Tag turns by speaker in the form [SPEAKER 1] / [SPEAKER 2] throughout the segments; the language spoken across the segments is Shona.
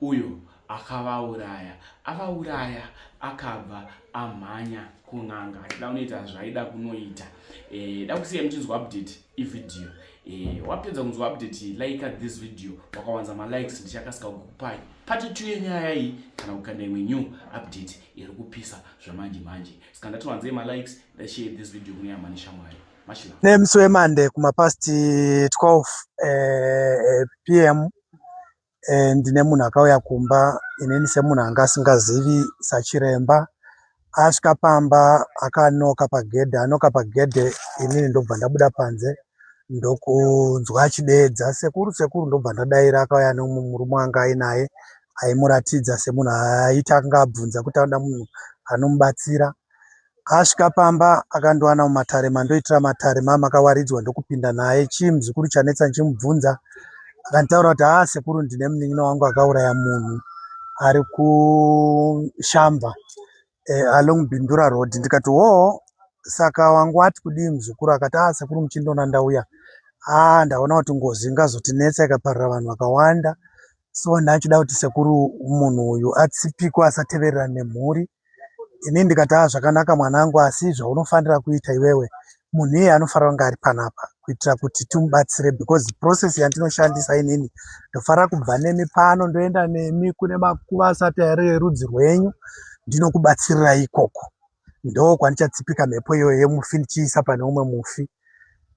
[SPEAKER 1] Uyo akavauraya avauraya akabva amhanya kun'anga achida kunoita zvaida kunoita eh, da kusiya muchinzwa update ivideo eh, wapedza kunzwa update like this video wakawanza malikes ndichakasika kukupai pati two yenyaya iyi kana kukanda imwe new update iri kupisa zvamanje manje saka ndatiwanzei malikes ndashare this video kune yamani shamwari nemusi
[SPEAKER 2] wemande kumapast 12 eh, eh, pm eh, ndine munhu akauya kumba inini semunhu anga asingazivi sachiremba asvika pamba akanoka pagedhe anoka pagedhe inini ndobva ndabuda panze ndokunzwa achideedza sekuru sekuru ndobva ndadaira akauya nemurume wanga ainaye aimuratidza semunhu aita anga abvunza kuti anoda munhu anomubatsira Asvika pamba akandiwana mumatare mandoitira matare mamakawaridzwa ndokupinda naye. Chii muzukuru chanetsa ndichimubvunza. Akanditaura kuti haa sekuru ndine munin'ina wangu akauraya munhu ari kushamba eh, along Bindura road ndikati hoo saka wangu ati kudii muzukuru akati haa sekuru muchindiona ndauya haa ah, ndaona kuti ngozi ingazotinetsa ikaparira vanhu vakawanda so ndachida kuti sekuru munhu uyu atsipikwe asateverera nemhuri ini ndikati haa zvakanaka mwanangu asi zvaunofanira kuita iwewe munhu iye anofanira kunge ari panapa kuitira kuti timubatsire because process yandinoshandisa inini ndofanira kubva nemi pano ndoenda nemi kune makuva asati ari erudzi rwenyu ndinokubatsirirai ikoko ndo kwandichatsipika mhepo iyoyo yemufi ndichiisa pane umwe mufi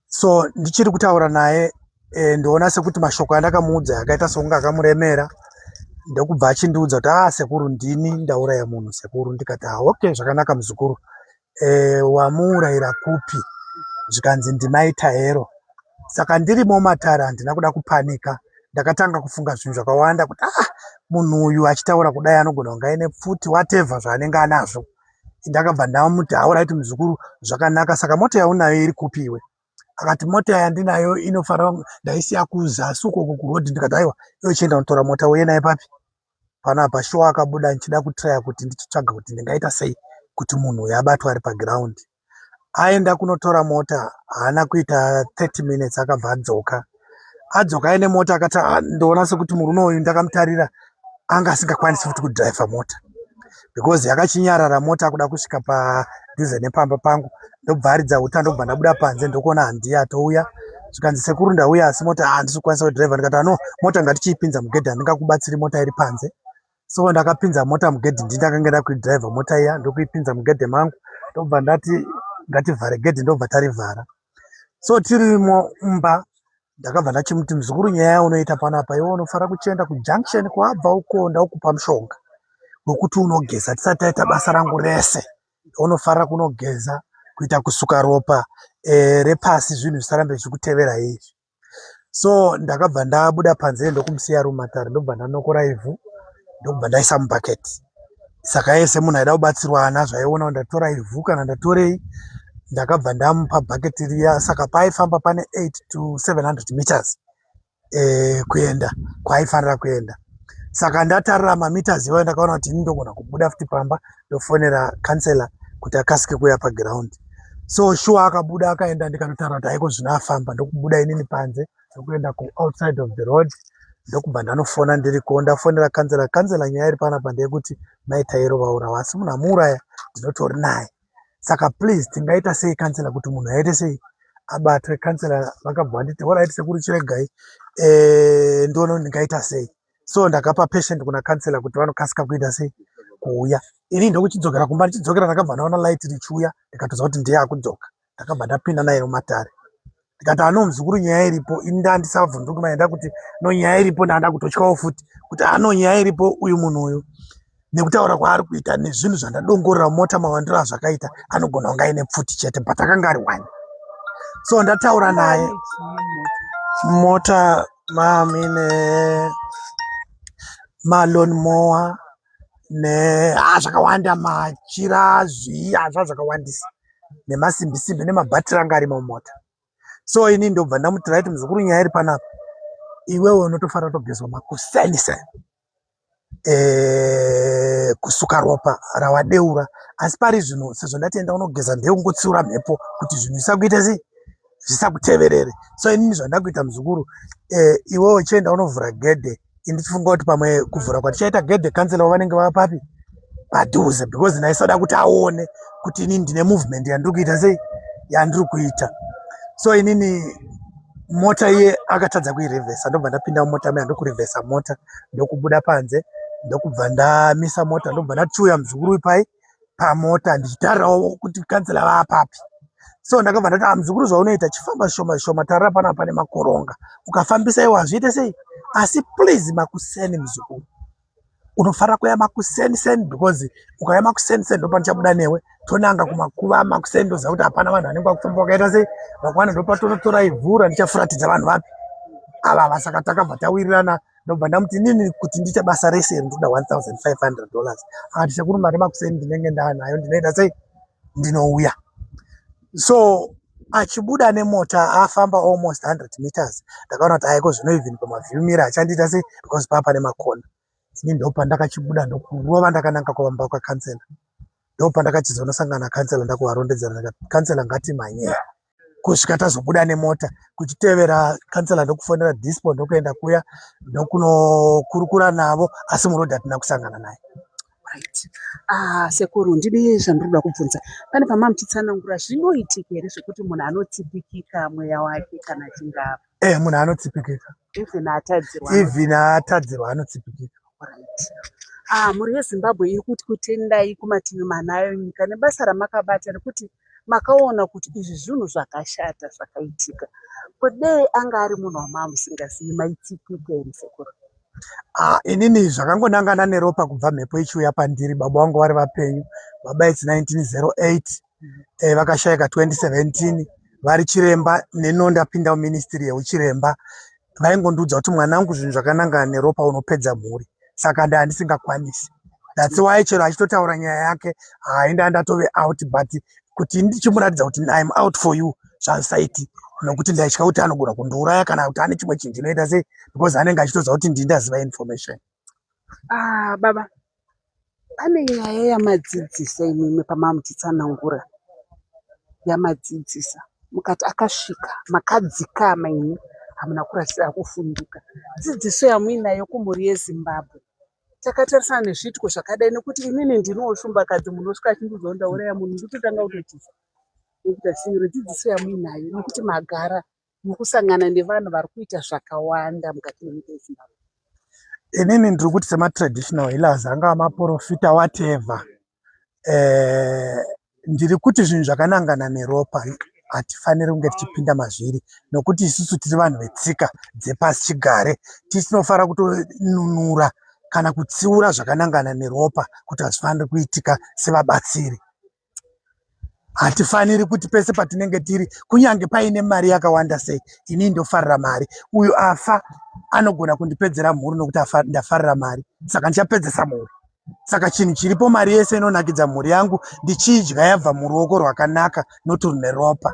[SPEAKER 2] so ndichiri kutaura naye e, ndoona sekuti mashoko andakamuudza akaita sekunge akamuremera ndokubva achindiudza kuti a ah, sekuru ndini ndauraya munhu sekuru ndikati ah, ok zvakanaka muzukuru e, eh, wamuurayira kupi zvikanzi ndimai taero saka ndirimo matare handina kuda kupanika ndakatanga kufunga zvinhu zvakawanda kuti ah munhu uyu achitaura kudai anogona kunga aine pfuti whatever zvaanenge anazvo ndakabva ndamuti hauraiti muzukuru zvakanaka saka mota yaunayo iri kupi iwe akati mota yandinayo inofara ndaisiya kuzasi ukoko kuroad ndikati aiwa iwe chienda unotora mota uye naye papi panapa shuwa akabuda ndichida kutraya kuti ndichitsvaga kuti ndingaita sei kuti munhu uyo abatwa ari pagiraundi aenda kunotora mota haana kuita 30 minutes akabva adzoka adzoka aine mota akati ah, ndoona sekuti murume uyu ndakamutarira anga asingakwanisi futi kudrive mota because yakachinyarara mota akuda kusvika padhuze nepamba pangu ndobva aridza uta ndobva ndabuda panze ndokuona handiya atouya zvikanzi sekuru ndauya asi mota handisi ah, kukwanisa kudrive ndikati ano mota ngatichiipinza mugedha ndingakubatsiri mota iri panze so ndakapinza mota mugedhi ndii ndakanga nda kuidriver mota iya ndokuipinza mugedhe mangu ndobva ndati ngativhare gedhi ndobva tarivhara so tirimo mumba ndakabva ndachimuti muzukuru nyaya yaunoita panapa iwe unofara kuchienda kujunction kwabva uko ndaukupa mushonga wekuti unogeza tisati taita basa rangu rese unofara kunogeza kuita kusuka ropa e, repasi zvinhu zvisarambe zvichikutevera izvi so ndakabva ndabuda panze ndokumusiya ari mumatare ndokubva ndanokora ivhu ndokubva ndaisa mubucket saka yese munhu aida kubatsirwa ana zvaiona kuti ndatora ivhu kana ndatorei ndakabva ndamupa bucket riya saka paaifamba pane 8 to 700 meters eh, kuenda kwaaifanira kuenda saka ndatarira mameters iwayo ndakaona kuti ini ndogona kubuda futi pamba ndofonera councilor kuti akasike kuuya paground so shuwa akabuda akaenda ndikanotaura kuti haiko zvino afamba ndokubuda inini panze ndokuenda kuoutside of the road ndokubva ndanofona ndiriko ndafonera councilor councilor nyaya iri panapa ndeyekuti mai tairo vaurawa asi munhu amuuraya ndinotori naye saka please tingaita sei councilor kuti munhu aite sei abatwe councilor vakabva vanditi horaiti sekuru chiregai e, eh, ndono ndingaita sei so ndakapa patient kuna counselor kuti vanokasika kuita sei kuuya ini ndokuchidzokera kumba ndichidzokera ndakabva ndaona light richiuya ndikatoza kuti ndiye akudzoka ndakabva ndapinda naye mumatare ndikati ano muzukuru nyaya iripo ini ndandisabvunduki maenda kuti no nyaya iripo ndanda kutotyawo futi kuti ano nyaya iripo uyu munhu uyu nekutaura kwaari kuita nezvinhu zvandadongorera mota mawandiro azvakaita anogona kunge aine pfuti chete but akanga ari one so ndataura naye mota mamine malon moa ne ah, zvakawanda machira zvii azva ah, zvakawandisa nemasimbisimbi nemabhatiri anga ari mumota so ini ndobva ndamutiraiti muzukuru nyaya iri panapa iwewe unotofara togezwa makusainisa kusuka ropa rawadeura asi pari zvino sezvo ndati enda unogeza ndekungotsiura mhepo kuti zvinhu zvisakuita sei zvisakuteverere so inini zvandakuita muzukuru eh, iwe uchienda unovhura gedhe ini tifunga kuti pamwe kuvhura kwatichaita gedhe kansela wavanenge vava papi padhuze because ndaisoda kuti aone kuti inini ndine movement yandiri kuita sei yandiri kuita so inini mota iye akatadza kuirevhesa ndobva ndapinda mumota maya ndokurevhesa mota ndokubuda panze ndokubva ndamisa mota ndobva ndachiuya muzukuru ipai pamota ndichitarirawo kuti kansela vaapapi so ndakabva ndati ah, muzukuru zvaunoita chifamba shoma shoma tarira pana pane makoronga ukafambisa iwo hazviite sei asi please makuseni muzukuru unofanira kuuya makuseni seni because ukauya makuseni seni ndopatichabuda newe tonanga kumakuva makuseni ndoziva kuti hapana vanhu vanenge vakufamba vakaita sei vakwana ndopatonotora ivhu randichafuratidza vanhu vapi ava ava saka takabva tawirirana ndobva ndamuti nini kuti ndiite basa rese iri ndoda 1500 dollars aka tichakuru mari makuseni ndinenge ndaanayo ndinoita sei ndinouya so achibuda nemota afamba almost 100 meters ndakaona kuti aiko zvino even pamaview mira achandiita sei because paa pane makona ini ndopandakachibuda ndokurova ndakananga kuvamba kwakansela ndopandakachizonosangana kansela ndakuvarondedzera ndikati kansela ngatimhanyei kusvika tazobuda nemota kuchitevera kansela ndokufonera dispo ndokuenda kuya ndokunokurukura navo asi muroad hatina kusangana naye right
[SPEAKER 3] ah sekuru ndine zvandinoda kubvunza pane pamamuchitsanangura zvinoitika here zvekuti munhu anotsipikika mweya wake kana chingava eh munhu anotsipikika
[SPEAKER 2] even atadzirwa even atadzirwa anotsipikika
[SPEAKER 3] ah mhuri yezimbabwe iri kuti kutendai kumativi manayo nyika nebasa ramakabata rekuti makaona kuti izvi zvinhu zvakashata zvakaitika ko dei anga ari munhu wamaamusingazivi maitsipike here sekuru Ah,
[SPEAKER 2] inini zvakangonangana neropa kubva mhepo ichiuya pandiri baba vangu vari vapenyu baba its 1908 eh, vakashaika 2017 vari chiremba neno ndapinda muministry yeuchiremba vaingondiudza kuti mwana wangu zvinhu zvakanangana neropa unopedza mhuri saka ndaa ndisingakwanisi thats why chero achitotaura nyaya yake hai ndaa ndatove out but kuti ndichimuratidza kuti im out for you zvansaiti nokuti ndaitya kuti anogona kundiuraya kana kuti ane chimwe chinhu chinoita sei because anenge achitoziva kuti ndii ndaziva information ah,
[SPEAKER 3] baba Pane nyaya yamadzidzisa imimi pamamutitsanangura yamadzidzisa mukati akasvika makadzikama imi hamuna kurasira kufunduka dzidziso yamuinayo kumhuri yezimbabwe takatarisana nezviitiko zvakadai nekuti inini ndinowo shumbakadzi munhu osvika achindiudzawo ndauraya munhu ndikutotanga kutotisa nekuti asinyore dzidziso yamuinayo nekuti magara mukusangana nevanhu vari kuita zvakawanda mukati menyika yezimbabwe inini
[SPEAKER 2] ndiri kuti sematraditional healers angava maprofita wateva um eh, ndiri kuti zvinhu zvakanangana neropa hatifaniri kunge tichipinda mazviri nokuti isusu tiri vanhu vetsika dzepasi chigare tisinofanira kutonunura kana kutsiura zvakanangana neropa kuti hazvifaniri kuitika sevabatsiri hatifaniri kuti pese patinenge tiri kunyange paine mari yakawanda sei inii ndofarira mari uyu afa anogona kundipedzera mhuri nokuti ndafarira mari saka ndichapedzesa mhuri saka chinhu chiripo mari yese inonakidza mhuri yangu ndichiidya yabva muruoko rwakanaka noturune ropa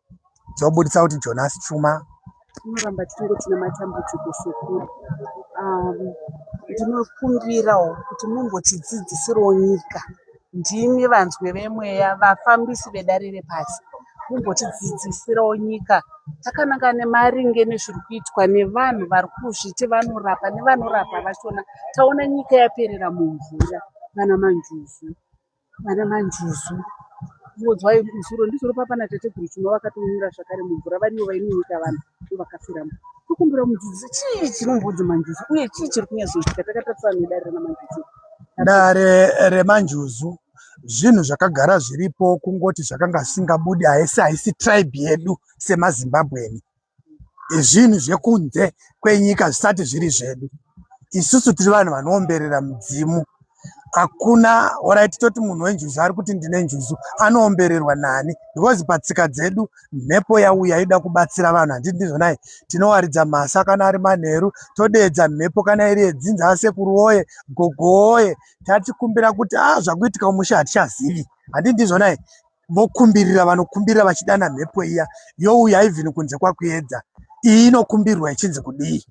[SPEAKER 2] dzobudisa kuti Jonas Chuma tinoramba tichinge
[SPEAKER 3] tine matambudziko sekuru um, ndinokumbirawo kuti mumbotidzidzisirawo nyika ndimi vanzwe vemweya vafambisi vedare repasi mumbotidzidzisirawo nyika takananga nemaringe nezviri kuitwa nevanhu vari kuzviti vanorapa nevanorapa vachona taona nyika yaperera mumvura kana manjuzu Vana manjuzu muodzwai musoro ndizvoro papa na tateguru chuma vakatonyura zvakare mumvura varivo vainonyika vanhu ndovakafiramo tokumbira mudzidzisi chii chinombodzo manjuzu uye chii chiri kunyazoitika takatarisana nedare ranamanjuzu dare remanjuzu
[SPEAKER 2] zvinhu zvakagara zviripo kungoti zvakanga zvisingabudi haisi haisi tribe yedu semazimbabweni zvinhu zvekunze kwenyika zvisati zviri zvedu isusu tiri vanhu vanoomberera mudzimu hakuna orit toti munhu wenjuzu ari kuti ndine njuzu anoombererwa nani because patsika dzedu mhepo yauya ida kubatsira vanhu handii ndizvonai tinowaridza mhasa kana ari manheru todeedza mhepo kana iri yedzinza asekuru woye gogo woye tatikumbira kuti a ah, zvakuitika umusha hatichazivi handii ndizvonai vokumbirira vanokumbirira vachidana mhepo iya youya even kunze kwakuedza iyi inokumbirwa ichinzi kudii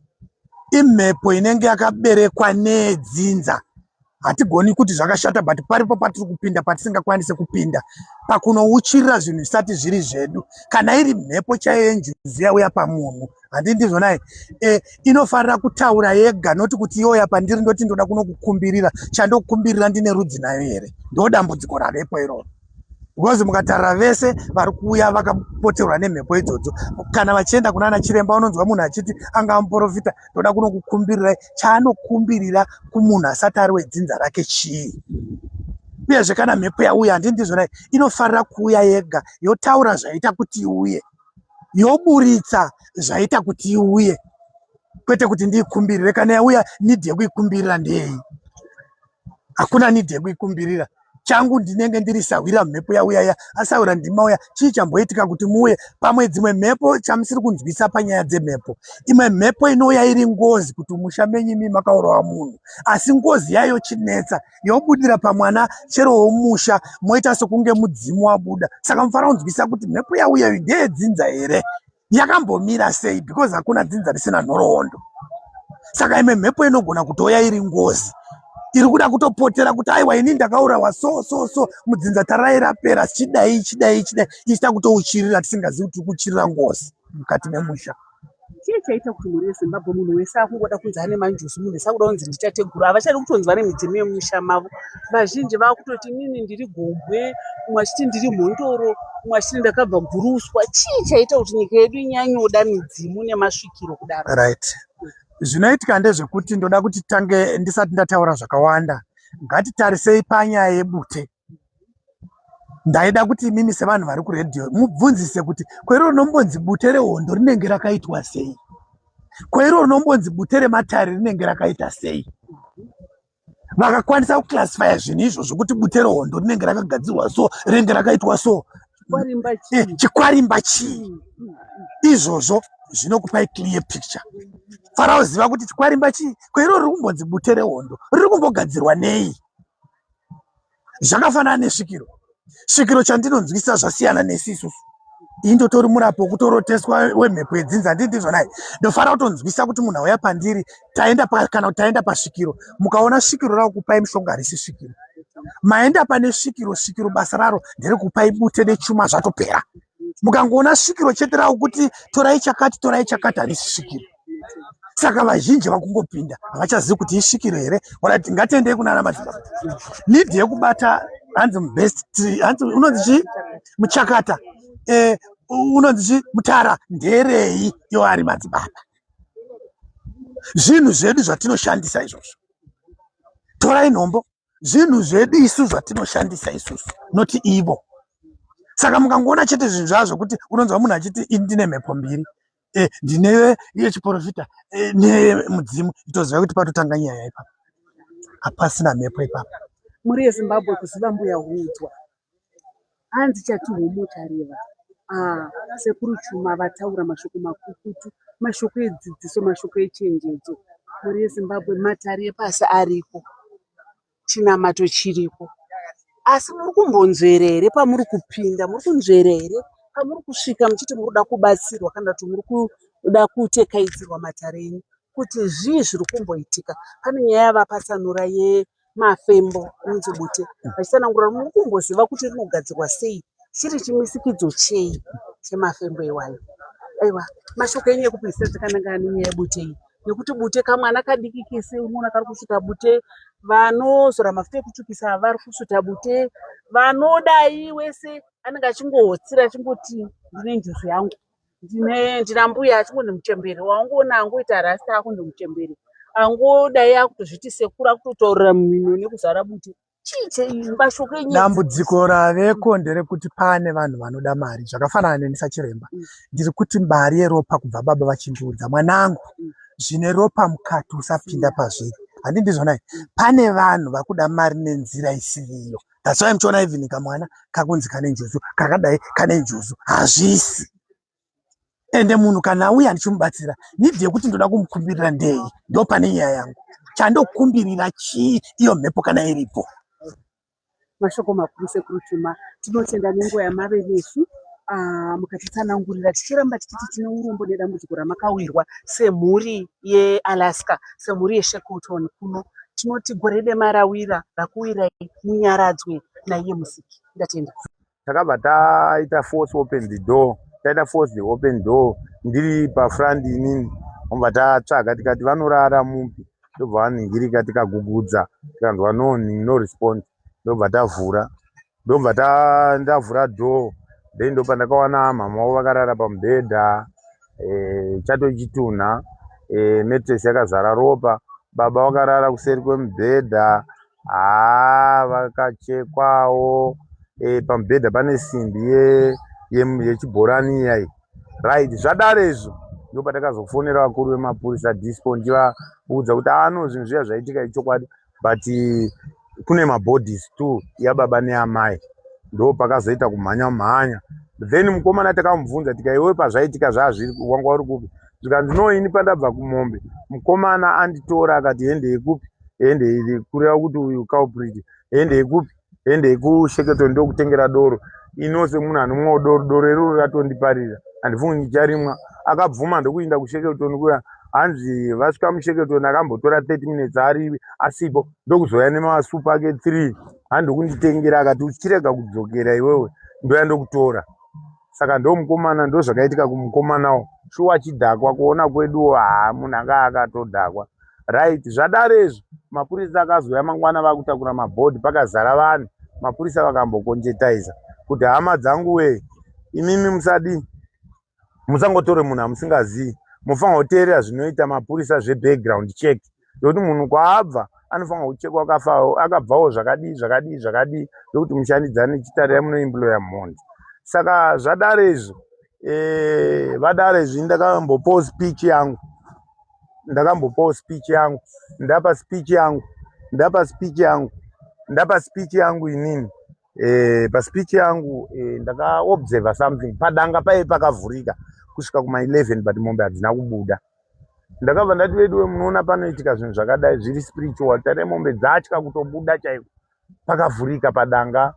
[SPEAKER 2] imhepo inenge yakaberekwa nedzinza hatigoni kuti zvakashata but paripo patiri kupinda patisingakwanise kupinda pakunouchirira zvinhu zvisati zviri zvedu kana iri mhepo chaiyo yenjuzi yauya pamunhu handii ndizvo naye e, inofanira kutaura yega noti kuti yoya pandiri ndoti ndoda kunokukumbirira chandokukumbirira ndine rudzi nayo here ndo dambudziko ravepo iroro because mukatarira vese vari kuuya vakapoterwa nemhepo idzodzo kana vachienda kunana chiremba unonzwa munhu achiti anga amuprofita ndoda kunokukumbirirai chaanokumbirira kumunhu asati ari wedzinza rake chii uyezve kana mhepo yauya handii ndizvonai inofanira kuuya yega yotaura zvaita kuti iuye yoburitsa zvaita kuti iuye kwete kuti ndiikumbirire kana yauya nidhi yekuikumbirira ndeyi hakuna nidhi yekuikumbirira changu ndinenge ndiri sahwira mhepo yauya ya asahwira ndima uya chii chamboitika kuti muuye pamwe dzimwe mhepo chamusiri kunzwisa panyaya dzemhepo imwe mhepo inouya iri ngozi kuti musha menyu imi makaurawa munhu asi ngozi yayo chinetsa yobudira pamwana chero womusha moita sokunge mudzimu wabuda saka mufana kunzwisisa kuti mhepo yauya iyi ndeyedzinza here yakambomira sei because hakuna dzinza risina nhoroondo saka imwe mhepo inogona kutouya iri ngozi iri kuda kutopotera kuti aiwa ini ndakaurawa so so so mudzinza tarai rapera chidai chidai chidai ichita kutouchirira tisingazivi kuti tiri kuchirira ngozi mukati memusha Chii chaita
[SPEAKER 3] kuti mhuri yeZimbabwe munhu wese akungoda kunzi ane manjuzu, munhu wese akuda kunzi ndichateguru. Havachadi kutonzi vane midzimu yemumusha mavo. Vazhinji vakutoti inini ndiri gombwe, umwe achiti ndiri mhondoro, umwe achiti ndakabva guruswa. Chii chaita kuti nyika yedu inyanyoda midzimu nemasvikiro kudaro? Right.
[SPEAKER 2] Zvinoitika ndezvekuti ndoda kuti tange ndisati ndataura zvakawanda. Ngatitarisei panyaya yebute. ndaida kuti imimi sevanhu vari kuredhiyo mubvunzise kuti kwairo rinombonzi bute rehondo rinenge rakaitwa sei kwairo rinombonzi bute rematare rinenge rakaita sei vakakwanisa kuclassifya zvinhu izvo zvokuti bute rehondo rinenge rakagadzirwa so rinenge rakaitwa so chikwarimba eh, chii izvozvo zvinokupai clear picture faraoziva kuti chikwarimba chii kwairo riri kumbonzi bute rehondo riri kumbogadzirwa nei zvakafanana nesvikiro svikiro chandinonzwisisa zvasiyana nesi isusu ini ndotori murapi wekutoroteswa wemhepo yedzinza handii ndizvo nai ndofanira kutonzwisisa kuti munhu auya pandiri taenda kana kuti taenda pasvikiro mukaona svikiro rakukupai mushonga harisi svikiro maenda pane svikiro svikiro basa raro nderekupai bute nechuma zvatopera mukangoona svikiro chete ravo kuti torai chakati torai chakati harisi svikiro saka vazhinji vakungopinda havachazivi kuti isvikiro here orati ngatiendei kunana madzibaba need yekubata hanzi mubest hanzi unonzi chii muchakata eh, unonzi chii mutara nderei yo ari madzibaba zvinhu zvedu zvatinoshandisa izvozvo torai nhombo zvinhu zvedu isu zvatinoshandisa isusu noti ivo saka mukangoona chete zvinhu zvazvo kuti unonzwa munhu achiti ini ndine mhepo mbiri eh, ndine iye chiporofita eh, nemudzimu itoziva kuti patotanga nyaya ipa hapasina mhepo ipapa mhuri yezimbabwe
[SPEAKER 3] kuziva mbuya hudzwa hanzi chatihomo chareva ah, sekuru chuma vataura mashoko makukutu mashoko edzidziso mashoko echenjedzo mhuri yezimbabwe matari epasi ariko chinamato chiriko asi muri kumbonzvera here pamuri kupinda muri kunzvera here pamuri kusvika muchiti muri kuda kubatsirwa kana kuti muri kuda kutekaidzirwa matare enyu kuti zvii zviri kumboitika pane nyaya yavapatsanura yemafembo anonzi bute vachitsanangura muri kumboziva kuti rinogadzirwa sei chiri chimisikidzo chei chemafembo iwayo aiwa mashoko enyu ekupedzisa dzakanangana nenyaya yebute iyi nekuti bute kamwana kadiki kese unoona kari kusvuta bute vanozora mafuta ekutsvukisa vari kusvuta bute vanodai wese anenge achingohotsira achingoti ndine njuzu yangu ndine ndina mbuya achingo ndimuchembere waungoona angoita rasta ako ndimuchembere angodai akutozviti sekuru akutotaurira mumino nekuzara bute dambudziko raveko
[SPEAKER 2] nderekuti pane vanhu vanoda mari zvakafanana neni sachiremba mm. ndiri kuti mari yeropa kubva baba vachindiudza mwanangu mm. zvine ropa mukati usapinda pazviri handi ndizvonai mm. pane vanhu vakuda mari nenzira isiriyo that's why muchiona even kamwana kakunzi kane njuzu kakadai kane njuzu hazvisi ende munhu kana auya handichimubatsira nidhi yekuti ndoda kumukumbirira ndei ndo pane nyaya yangu chandokumbirira chii iyo mhepo kana iripo
[SPEAKER 3] mashoko makuru sekuru chuma tinotenda nenguva yamave nesu ah, mukatitsanangurira tichiramba tichiti tine urombo nedambudziko ramakawirwa semhuri yealaska semhuri yeshekoton kuno tinoti gore demarawira rakuwirai munyaradzwe naiye musiki ndatenda takabva
[SPEAKER 4] taita force open the door taita force the open door ndiri pafront inini vobva tatsvaga tikati vanorara mupi ndobva vaningirika tikagugudza tikanzwa no no respond ndobva tavhura ndobva ndavhura door then ndopa ndakawana mhama wavo vakarara pamubhedha eh, chato chitunha eh, matress yakazara ropa baba vakarara kuseri kwemubhedha haa vakachekwawo e, pamubhedha pane simbi yechibhorani ye, ye iyai right zvadaro izvo ndo patakazofonera vakuru vemapurisa dispo ndivaudza kuti ano zvinhu zviya zvaitika ichokwadi but kune mabodies two yababa neamai ndo pakazoita kumhanya mhanya then mukomana takamubvunza tika iwe pazvaitika zvazviri wanga uri kupi zvikanzi no ini pandabva kumombe mukomana anditora akati hende yekupi hende iri kureva kuti uyu culprit hende yekupi hende yekusheketo ndokutengera doro inose munhu anomwawo doro doro iroro ratondiparira handifungi ndicharimwa akabvuma ndokuinda kusheketoni kuya hanzi vasvika musheketoni akambotora 30 minutes arivi asipo ndokuzouya nemasupa ake three handi kunditengera akati uchirega kudzokera iwewe ndoya ndokutora saka ndo mukomana ndo zvakaitika kumukomanawo shuwa chidhakwa kuona kweduwo haa munhu anga akatodhakwa right zvadaro izvi mapurisa akazouya mangwana vakutakura mabhodhi pakazara vanhu mapurisa vakambokonjetaiza kuti hama dzangu wee imimi musadii musangotore munhu amusingazii mofanira kuteerera zvinoita mapurisa zvebackground check nekuti munhu kwaabva anofanira kuchekwa akafa akabvawo zvakadii zvakadii zvakadii nekuti mushandidzani chitare yamunoimploya mhondi saka zvadare izvo eh, vadare izvi ndakambopawo speech yangu ndakambopawo speech yangu ndapa speech yangu ndapa speech yangu ndapa speech yangu inini eh, paspeech yangu eh, ndakaobserver something padanga paye pakavhurika kusvika kuma 11 but mombe hadzina kubuda ndakabva ndati veduwe munoona panoitika zvinhu zvakadai zviri spiritual tare mombe dzatya kutobuda chaiko pakavhurika padanga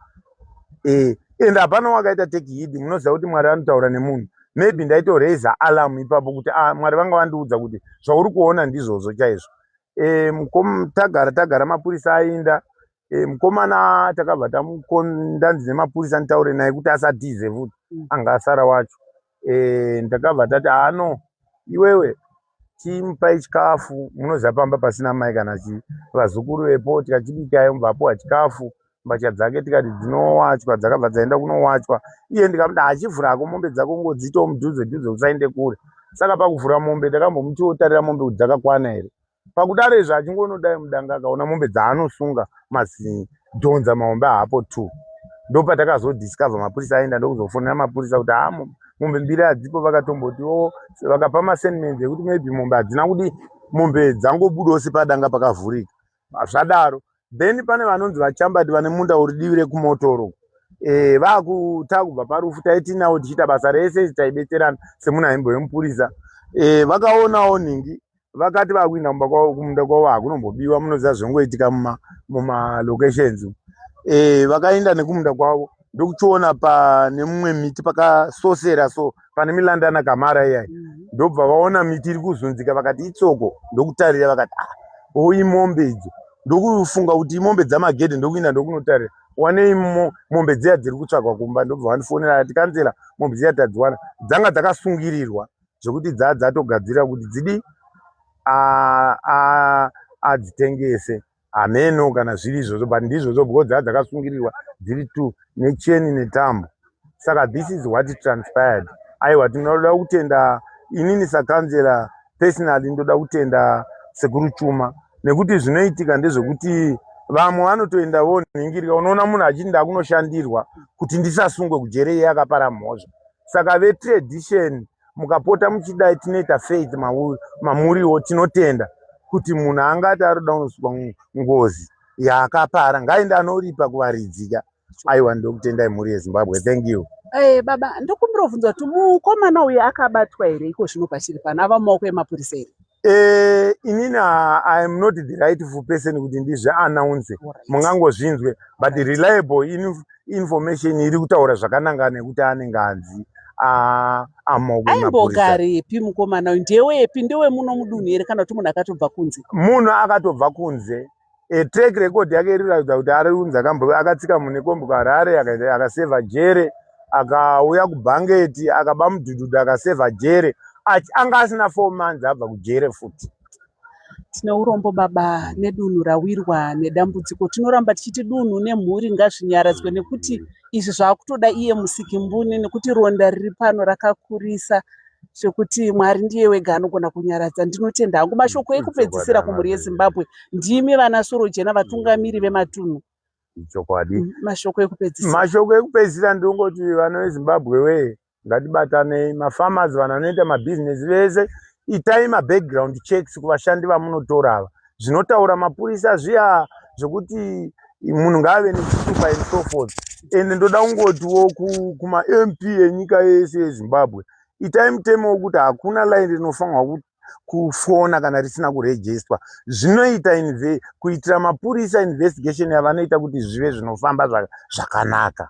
[SPEAKER 4] eh, and hapana wakaita take heed munoziva kuti mwari anotaura nemunhu maybe ndaitoraiza alarm ipapo kuti a ah, mwari vanga vandiudza kuti zvauri kuona ndizvozvo chaizvo eh, mkom tagara tagara mapurisa ainda eh, mukomana takabva tandanzi nemapurisa nditaure naye kuti asatize futi mm. anga asara wacho eh, ndakabva tati haa no iwewe chimupai chikafu munoziva pamba pasina mai kana chii vazukuru vepo tikachibikayo mvapuwa chikafu mbatya dzake tikati dzinowachwa dzakabva dzaenda kunowachwa iye ndikamuda hachivhura hako mombe dzako ngodzitawo mudhuze dhuze usaende kure saka pakuvhura mombe takambomuti wotarira mombe kuti dzakakwana here pakudaro izvo achingonodai mudanga akaona mombe dzaanosunga mazinhi dhonza mahombe haapo two ndopatakazodiscover mapurisa aenda ndokuzofonera mapurisa kuti haa mombe mbiri hadzipo vakatomboti oo vakapa masenmens ekuti maybe mombe hadzina kudi mombe dzangobudawo sepadanga pakavhurika zvadaro then pane vanonzi vachambati vane munda uri divi rekumotoro eh, vakutaa kubva parufu taitinawo tichiita basa rese taibetserana semunhu aimbo yemupurisa eh, vakaonawo nhingi vakati vakuinda kumba kwavo kumunda kwavo hakunombobiwa munoziva zvinongoitika muma mumalocations umu Eh, vakaenda nekumunda kwavo ndokuchiona pane mumwe miti pakasosera so pane milanda ana kamara iyayi ndobva vaona miti iri kuzunzika vakati itsoko ndokutarira vakati ah o imombe idzo ndokufunga kuti imombe dzamagedhe ndokuinda ndokunotarira wanei mo- mombe dziya dziri kutsvagwa kumba ndobva vandifonera ati kanzela mombe dziya tadziwana dzanga dzakasungirirwa zvekuti dzaa dzatogadzira kuti dzidi adzitengese hameno kana zviri izvozvo but ndizvozvo because dzaa dzakasungirirwa dziri two necheni netambo saka this is what transpired aiwa tinoda kutenda inini sakanzera personally ndoda kutenda sekuru chuma nekuti zvinoitika ndezvekuti vamwe vanotoenda vonhingirika unoona munhu achiti ndakunoshandirwa kuti ndisasungwe kujere iye akapara mhozva saka vetradition mukapota muchidai tinoita faith mamuriwo tinotenda kuti munhu anga ati aroda unosvika ngozi yaakapara ngaende anoripa kuvaridzika aiwa ndokutendai mhuri yezimbabwe thank you Hey, eh, baba ndokumbira
[SPEAKER 3] kubvunza kuti mukomana uyu akabatwa here iko zvino pachiri pano ava mumaoko emapurisa here Eh, inini
[SPEAKER 4] ah, i am not the rightful person kuti ndizvi announce mungangozvinzwe but reliable inf information iri kutaura zvakananga nekuti anenge anzi ah, amogwe mapurisa aimbogaripi mukomana
[SPEAKER 3] uyu ndewepi ndewemuno mudunhu here kana kuti munhu akatobva kunze munhu akatobva
[SPEAKER 4] kunze e track record yake iri ratidza kuti ari unzi akambo akatsika mune kombo ka Harare akaseva jere akauya ku Bangeti akaba mudududu akaseva jere achi anga asina 4 months abva ku jere futi tine
[SPEAKER 3] urombo baba nedunhu rawirwa nedambudziko tinoramba tichiti dunhu nemhuri ngazvinyaradzwe nekuti izvi zvaakutoda iye musikimbune nekuti ronda riri pano rakakurisa zvekuti mwari ndiye wega anogona kunyaradza ndinotenda hangu mashoko mm, ekupedzisira kumhuri yezimbabwe ndimi vana sorojena vatungamiri mm. vematunhu ichokwadi
[SPEAKER 4] mm, mashoko ekupedzisira
[SPEAKER 3] mashoko ekupedzisira
[SPEAKER 4] ndingoti vana vezimbabwe wee ngatibatanei mafarmers vanhu vanoita mabhizinesi vese itai mabackground checks kuvashandi vamunotora ava zvinotaura mapurisa zviya zvekuti munhu ngaave nechitupa and so forth ende ndoda kungotiwo kumamp enyika yese yezimbabwe itai mutemo wekuti hakuna line rinofanirwa kuti kufona kana risina kurejistwa zvinoita inve kuitira mapurisa investigation yavanoita kuti zvive zvinofamba zvakanaka